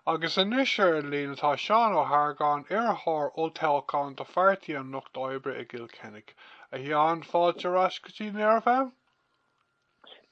Agus anois ar an líne tá Seán Ó hArgáin, iarrthóir olltoghcháin do Phairtí an Lucht Oibre i gCill Chainnigh. A Sheáin, fáilte ar ais go dtí Near FM.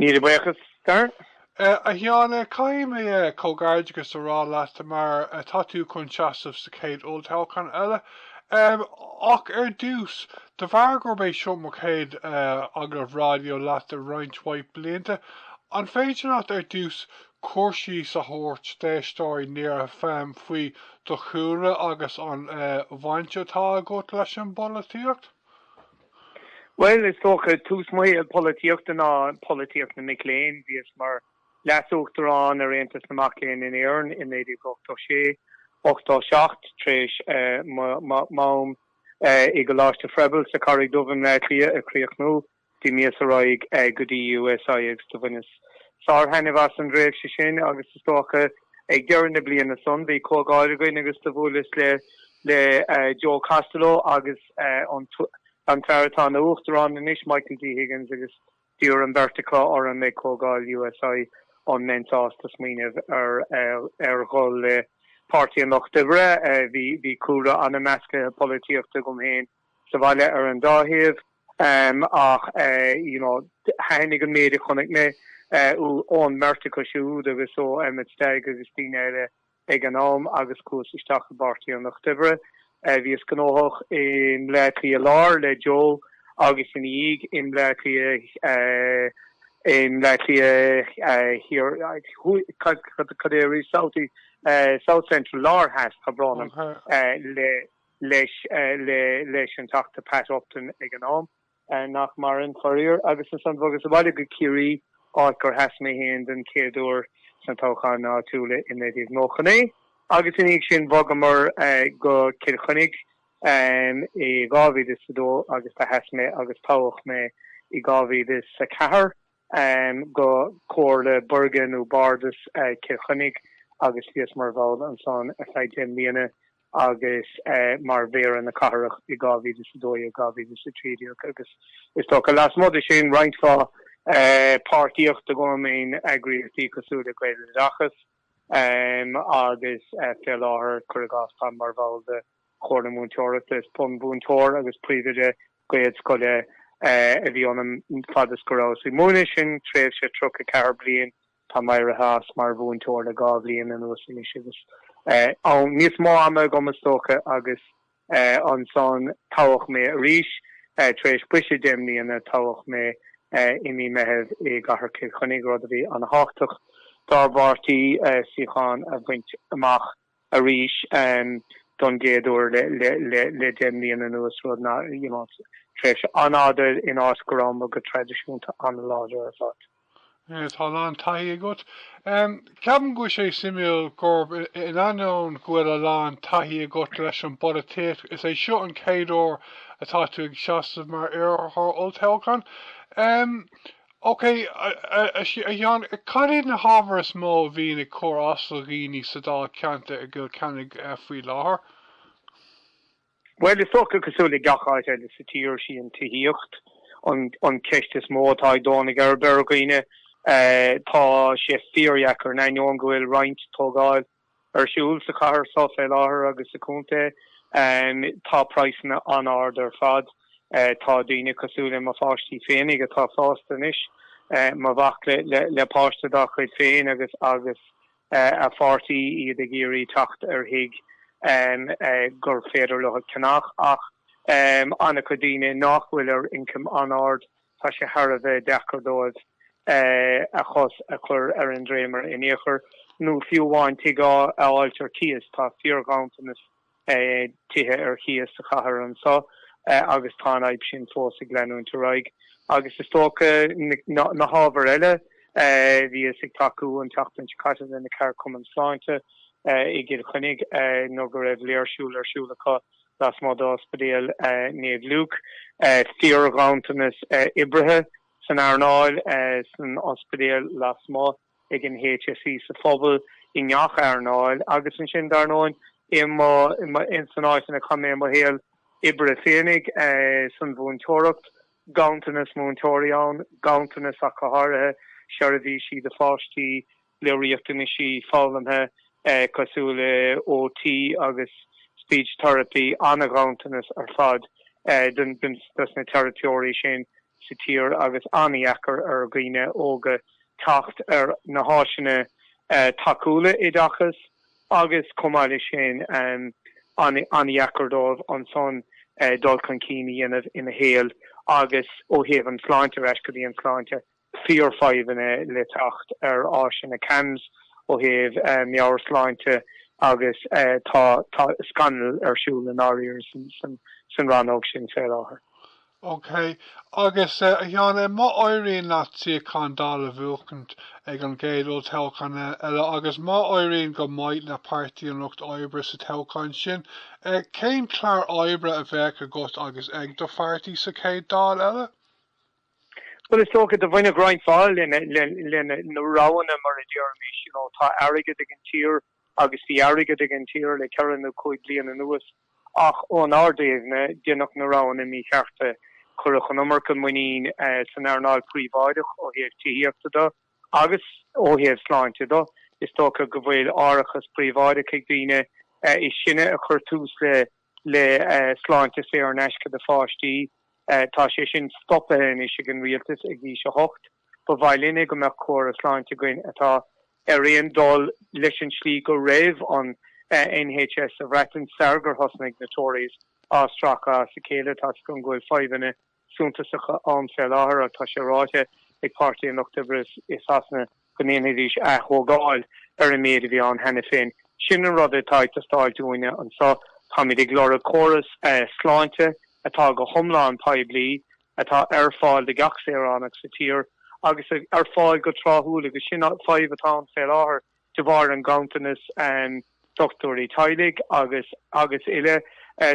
Míle buíochas, Darren. A Sheáin, caithfidh mé comhghairdeachas a rá leat mar tá tú chun seasamh sa chéad olltoghchán eile. Ach ar dtús, de bharr gurb é seo mo chéad agallamh raidió leat i roinnt mhaith blianta, an féidir leat ar dtús cur síos a thabhairt d'éisteoirí Near FM faoi do chúlra agus an bhaint atá agat leis an bpolaitíocht? Bhuel, is dócha, tús mo shaol polaitíochta ná polaitíocht na mic léinn. Bhíos mar leasuachtarán ar Aontas na Mac Léinn in Éirinn i 1986, 87, tar éis m'am i gColáiste Froebel sa Charraig Dhubh i mBleá Cliath a chríochnú. D'imíos ar aghaidh go dtí USI agus do bhaineas sár-thaitneamh as an dtréimhse sin agus is dócha ag deireadh na bliana san bhí comhdháil againn agus do bhuaileas le Joe Costello agus an fear atá ina Uachtarán anois, Michael D. Higgins agus d'iarr an bheirt acu orm ag comhdháil USI an mbeinn sásta smaoineamh ar dhul le Páirtí an Lucht Oibre. Bhí cúlra an-mheascaithe polaitíochta agam féin. sa bhaile ar an dá thaobh ach you know thaithnigh an méid a chonaic mé ón mbeirt acu siúd agus ó Emmet Stagg agus daoine eile ag an am agus chuas isteach i bPáirtí an Lucht Oibre. Bhíos gnóthach i mBleá Cliath Láir le Joe agus ina dhiaidh i mBleá Cliath i mBleá Cliath Thiar Thuaidh cad é a rí South Central Láir Theas tá brón orm le leis leis an Teachta Pat Upton ag an am, nach maireann, faraor, agus ansan bhogas abhaile go Ciarraí, áit gur sheas mé féin don chéad uair sna toghcháin áitiúla i 1999. Agus ina dhiaidh sin bhogamar go Cill Chainnigh i 2002 agus do sheas mé agus toghadh mé i 2004. go Comhairle Buirge nó Bardas Chill Chainnigh agus bhíos mar bhall ansan ar feadh deich mbliana agus mar Mhéara na Cathrach i 2012, 2013 agus is dócha lasmuigh de sin roinnt mhaith páirtíocht agam in eagraíochtaí cosúil le Gaeloideachas agus fé láthair, cuir i gcás, táim mar bhall de. Chomhairle Mhúinteoireachta. Is bunmhúinteoir agus príomhoide Gaelscoile a bhí ionam fad is go rabhas ag múineadh. Sin tréimhse 34 bliain. Táim éirithe as mar mhúinteoir le dhá bhliain anuas anois agus níos mó ama agam is dócha agus ansan toghadh mé arís. Tar éis briseadh deich mbliana toghadh mé i mí Meitheamh i gcathair Chill Chainnigh, rud a bhí ana thábhachtach dár bpáirtí suíochán a bhaint amach. arís don gcéad uair le deich mbliana anuas, rud nach, you know, tréimhse an-fhada in áit go rabhamar go traidisiúnta an-láidir ar fad. Yeah, tá a lán taithí agat. Ceapaim go bhfuil sé suimiúil gur in ainneoin go bhfuil a lán taithí agat leis an bpolaitíocht, is é seo an chéad uair atá tú ag seasamh mar iarrthóir olltoghcháin. OK, a Sheáin, cad iad na hábhair is mó a bhíonn ag cur as do dhaoine sa Dáilcheantar i gCill Chainnigh faoi láthair? Bhuel, is dócha cosúil le gach áit eile sa tír, sí an tithíocht an cheist is mó atá ag dó na geirbe ar dhaoine. Tá sé fíordheacair, in ainneoin go bhfuil roinnt tógála, Ar siúl sa chathair so fé láthair agus sa chontae tá praghsanna an-ard ar fad. Tá daoine cosúil le mo pháistí féinig atá fásta anois, mo mhac le páiste dá chuid féin agus agus a pháirtí, iad ag iarraidh teacht ar thigh gur féidir leo a cheannach ach an-chuid daoine nách bhfuil ar ioncam an-ard. Tá sé thar a bheith deacair dóibh cos a chur ar an dréimire in ao'chor, nó fiú amháin tigh a fháilt ar cíos. Tá fíor-ghanntanas tithe ar chíos sa chathair anso agus tá an fhadhb sin fós ag leanúint ar aghaidh. Agus is dócha na hábhair eile. Bhíos ag tacú an tseachtain seo caite le na ceardchumainn sláinte i gCill Chainnigh nuair go raibh léirsiú ar siúl acu. lasmuigh d'Ospidéal Naomh Lúcás, fíorghanntanas oibrithe san earnáil, san ospidéal, lasmuigh ag an HSE, sa phobal, i ngach earnáil agus ansin, dar ndóin, ins an áit inar chaith mé mo shaol oibre féinig, san mhúinteoireacht. Ganntanas múinteoirí ann, ganntanas ach go háirithe, seirbhísí do pháistí le riachtanaisí foghlamtha cosúil le OT agus Speech Therapy, an-ghanntanas ar fad dos na teiripeoirí sin sa tír agus an-dheacair ar dhaoine óga teacht ar na háiseanna tacúla oideachais agus chomh maith le sin an-dheacair dóibh ansan dul chun cinn a dhéanamh ina saol agus ó thaobh an tsláinte ar ais go dtí an tsláinte. Fíorfhadhbhanna le teacht ar áiseanna CAMHS ó thaobh meabhairshláinte agus tá tá scannal ar siúl i ndáiríre san rannóg sin fé láthair. OK, agus a Sheáin, má éiríonn leat suíochán Dáil a bhuachaint ag an gcéad olltoghchán eile agus má éiríonn go maith le Páirtí an Lucht Oibre sa toghchán sin, cén clár oibre a bheadh agat agus ag do pháirtí sa chéad Dáil eile? Bhuel is dócha do bhainfeadh roinnt mhaith le le na roghanna mar a déarfaimis, you know, tá airgead ag an tír agus bhí airgead ag an tír le ceithre nó cúig bliain anuas ach ón ár dtaobhna déanadh na roghanna míchearta, cuireadh an iomarca muinín san earnáil phríobháideach ó thaobh tithíochta de agus ó thaobh sláinte de. Is dócha go bhfuil árachas príobháideach ag daoine. Is sinne a chuir tús le. le sláinte saor in aisce do pháistí. Tá sé sin stoptha anois ag an rialtas ag aois a hocht. Ba mhaith linne go mbeadh córas sláinte againn atá ar aon dul leis an slí go raibh an NHS sa Bhreatain sar gur thosnaigh na Tories á stracadh as a chéile tá's agam go bhfuil fadhbanna suntasacha ann fé láthair ach tá sé ráite ag Páirtí an Lucht Oibre i Sasana go ndéanfaidís ath-thógáil ar an méid a bhí ann cheana féin. Sin an rud atá ag teastáil dúinne anseo. Táimid ag lorg córas sláinte atá go hiomlán poiblí, atá ar fáil do gach saoránach sa tír agus ar fáil go tráthúil agus sin an fadhb atá ann fé láthair de bharr an ganntanas dochtúirí teaghlaigh agus agus uile.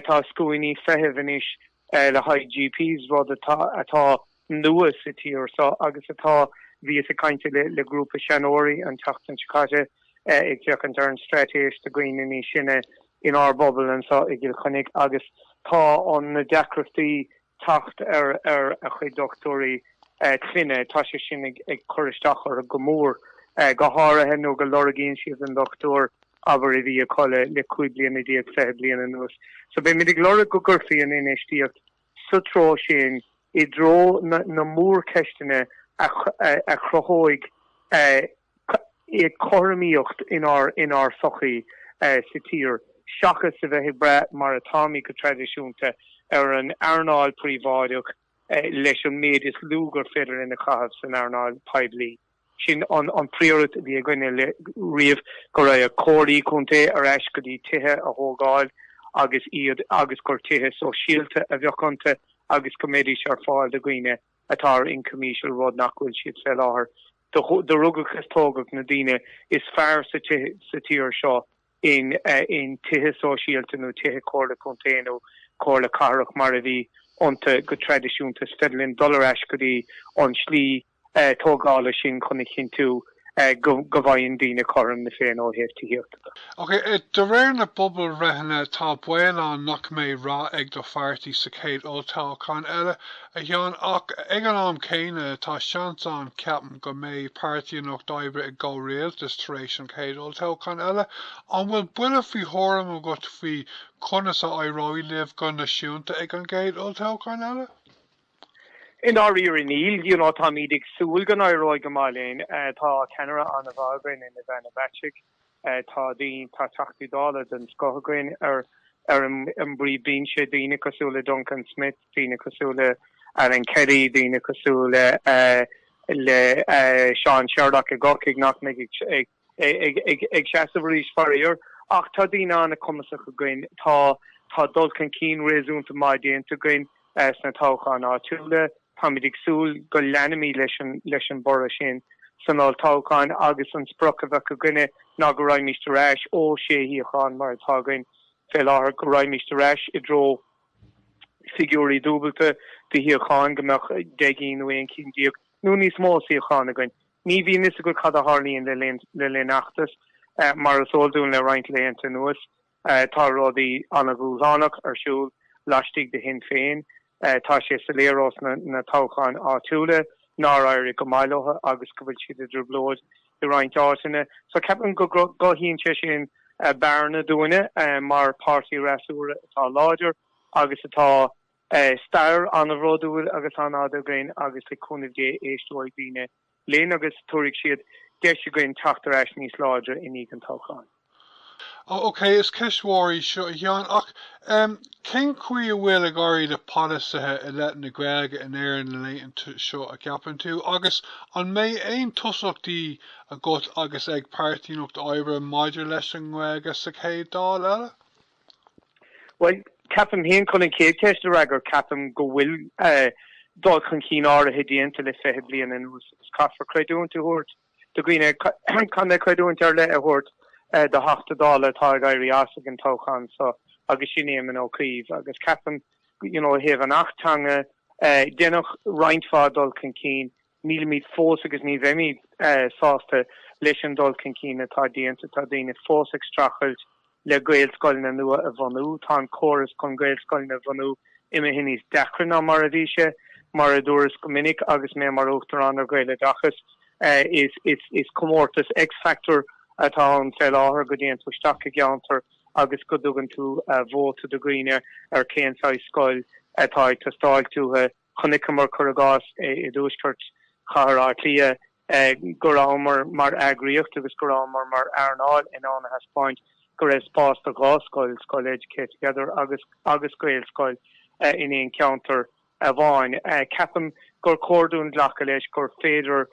Tá scuainí feithimh anois le haghaidh GPs, rud atá nua sa tír seo agus atá Bhíos ag caint le grúpa seanóirí an tseachtain seo caite ag féachaint ar an straitéis do dhaoine níos sine inár bpobal anseo i gCill Chainnigh agus tá an na deacrachtaí teacht ar ar a chuid dochtúirí clainne, tá sé sin ag cur isteach orthu go mór, go háirithe nuair go lorgaíonn siad an dochtúir. abair a bhí acu le 15 bliana fiche bliain anuas. So beimid ag lorg go gcuirfí an infheistíocht sa treo sin i dtreo na mórcheisteanna a chruthóidh cothromaíocht inár sochaí sa tír seachas a bheith ag brath, mar atáimid go traidisiúnta, ar an earnáil príobháideach leis an méid is lú gur féidir linn a chaitheamh san earnáil poiblí. Sin an priority a bhí againne le riamh, go raibh comhairlí contae ar ais go dtí tithe a thógáil agus iad agus gur tithe sóisialta a bheadh iontu agus go mbeidís ar fáil do dhaoine atá ar ioncam íseal, rud nach bhfuil siad fé láthair. Do rugadh is tógadh na daoine is fearr sa tír seo in in tithe sóisialta nó tithe comhairle contae nó comhairle cathrach mar a bhí iontu go traidisiúnta. Is féidir linn dul ar ais go dtí an slí. tógáil ansin chun a chinntiú go bhfaigheann daoine cothrom na Féinne ó thaobh tithíochta de. Ach de réir na bpobalbhreitheanna tá baol ann nach mbeidh rath ag do pháirtí sa chéad olltoghchán eile, a Sheáin, ach ag an am céanna tá seans ann, ceapaim, go mbeidh Páirtí an Lucht Oibre i gcomhrialtas tar éis an chéad olltoghchán eile. An bhfuil buille faoi thuairim agat faoi conas a éireoidh libh go naisiúnta ag an gcéad olltoghchán eile? I ndáiríre níl. You know táimíd ag súil go n-éireoidh go maith linn. Tá ceannaire an-mhaith againn in Ivana Bacik. Tá, tá Teachtaí Dála den scoth againn ar an bpríomhbhinse, daoine cosúil le Duncan Smith, daoine cosúil le Alan Kelly, daoine cosúil le Seán Sherlock i gCorcaigh nach mbeidh ag ag seasamh arís faraor ach tá daoine an-chumasach againn. Tá, tá dul chun cinn réasúnta maith déanta againn sna toghcháin áitiúla. Táimid ag súil go leanfaimid leis an bhorradh sin san olltoghchán agus an sprioc a bheidh againne ná go raghaimid ar ais ó sé shuíochán mar atá againn fé láthair go raghaimid ar ais i dtreo figiúirí dúbailte de shuíocháin, go mbeadh deich gcinn nó aon chinn déag nó níos mó suíochán againn. Ní bhíonn fhios agat cad a tharlaíonn le linn feachtais. Mar is eol dúinn le roinnt laethanta anuas, tá rudaí ana-dhúshlánach ar siúl laistigh de Shinn Féin. Tá sé soiléir ós na toghcháin áitiúla nár éirigh go maith leo agus go bhfuil siad i dtrioblóid i roinnt áiteanna. So ceapaim go gcothaíonn sé sin bearna dúinne mar páirtí freasúra atá láidir agus atá. Stair an-bhródúil agus an-fhada againn agus le cúnamh Dé éisteoidh daoine linn agus tabharfaidh siad deis dúinn teacht ar ais níos láidre i ndiaidh an toghcháin. OK, is ceist mhór í seo, a Sheáin, ach cén chaoi a bhfuil ag éirí le polasaithe i leith na Gaeilge in Éirinn na laethanta seo, a gceapann tú, agus an mbeidh aon tosaíochtaí agat agus ag Páirtí an Lucht Oibre maidir leis an nGaeilge sa chéad Dáil eile? Bhuel, ceapaim féin, chun an chéad cheist a fhreagairt, ceapaim go bhfuil dul chun cinn áirithe déanta le fiche bliain anuas agus caithfear creidiúint a thabhairt do dhaoine, caithfear creidiúint ar leith a thabhairt do Theachta Dála atá ag éirí as ag an toghchán so agus sin Éamon Ó Cuív agus ceapaim, you know, ó thaobh an Acht Teanga, deineadh roinnt mhaith dul chun cinn. Nílimid fós agus ní bheimid sásta leis an dul chun cinn atá déanta. Tá daoine fós ag streachailt le gaelscoileanna nua a bhunú. Tá an córas chun gaelscoileanna a bhunú imithe níos deacra ná mar a bhí sé. Mar a dúras go minic agus mé mar Uachtarán ar Ghaeloideachas, is comórtas x-factor atá ann fé láthair, go dtéann tú isteach i gceantar agus go dtugann tú vóta do dhaoine ar cén saghas scoil atá ag teastáilt uathu. Chonaiceamar, cuir i gcás, i dtuaisceart Chathair Átha Cliath go rabhamar mar eagraíocht agus go rabhamar mar earnáil in ann a thaispeáint go raibh spás do dhá scoil, scoil Educate Together agus agus Gaelscoil, in aon cheantar amháin. Ceapaim gur chóir dúinn glacadh leis gur féidir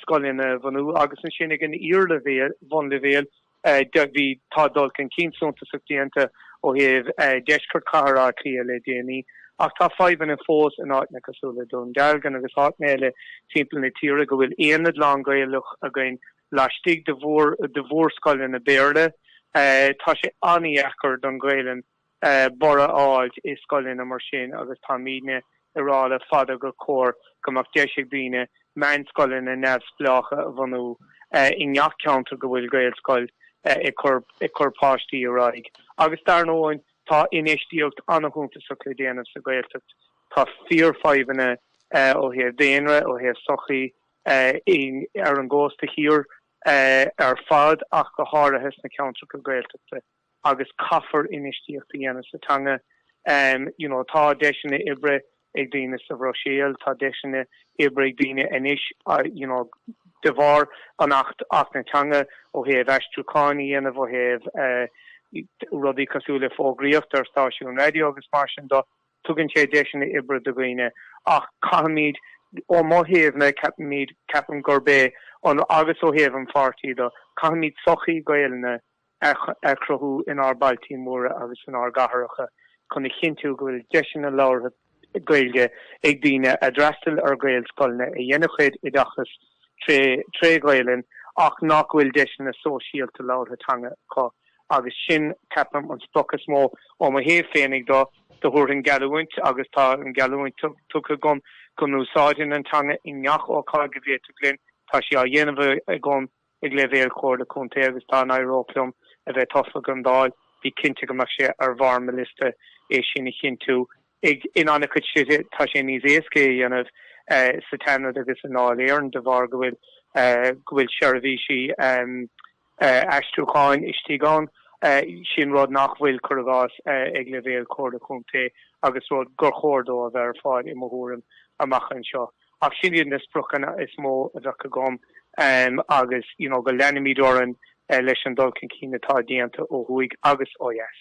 scoileanna a bhunú agus ansin ag an iarleibhéal, bunleibhéal, Bhí tá dul chun cinn suntasach déanta ó thaobh deisceart chathair Átha Cliath le déanaí ach tá fadhbanna fós in áiteanna cosúil le Dún Dealgan agus áiteanna eile timpeall na tíre go bhfuil aonad lán Gaelach againn laistigh de mhórscoileanna Béarla. Tá sé an-dheacair don Ghaelainn borradh a fháilt i scoileanna mar sin agus táimidne ag rá le fada gur chóir go mbeadh deis ag daoine meánscoileanna neamhspleácha a bhunú i ngach ceantar go bhfuil Gaelscoil ag cur páistí ar aghaidh. Agus dar ndóigh tá infheistíocht ana-shuntasach le déanamh sa Ghaeltacht. Tá fíorfhadhbanna ó thaobh daonra, ó thaobh sochaí ar an gcósta thiar ar fad ach go háirithe sna ceantracha Gaeltachta. agus caithfear infheistíocht a dhéanamh sa teanga. You know, tá deiseanna oibre ag daoine sa Bhruiséil, tá deiseanna oibre ag daoine anois, you know, de bharr an Acht Acht na Teanga, ó thaobh aistriúcháin a dhéanamh, ó thaobh rudaí cosúil le fógraíocht ar stáisiúin raidió agus mar sin de, tugann sé deiseanna oibre do dhaoine. Ach caithfimid, ó mo thaobhsa, caithfimid, ceapaim gurb é an, agus ó thaobh an pháirtí de, caithfimid sochaí Gaelainne a chruthú inár bailtí móra agus inár gcathracha chun a chinntiú go bhfuil deiseanna labhartha Gaeilge ag daoine a d'fhreastail ar Ghaelscoileanna, a dhein a chuid oideachais tré Ghaelainn ach nach bhfuil deiseanna sóisialta labhartha teanga acu agus sin, ceapaim, an sprioc is mó. Ó mo thaobh féinig de, do thabharfainn geallúint agus tá an gheallúint tugtha agam go n-úsáidfinn an teanga i ngach ócáid go bhféadfainn. Tá sé á dhéanamh agam. ag leibhéal Chomhairle Contae agus dá n-éireodh liom a bheith tofa don Dáil, bí cinnte go mbeadh sé ar bharr mo liosta é sin a chinntiú. Ar an gcéad dul síos, tá sé níos éasca é a dhéanamh sa tSeanad agus i nDáil Éireann de bharr go bhfuil go bhfuil seirbhísí aistriúcháin istigh ann. Sin rud nach bhfuil, cuir i gcás, ag leibhéal Chomhairle Contae agus rud gur chóir dó a bheith ar fáil, i mo thuairim, amach anseo. Ach sin iad na spriocanna is mó a bheadh agam agus you know go leanfaimid orainn leis an dul chun cinn atá déanta ó thuaidh agus ó dheas.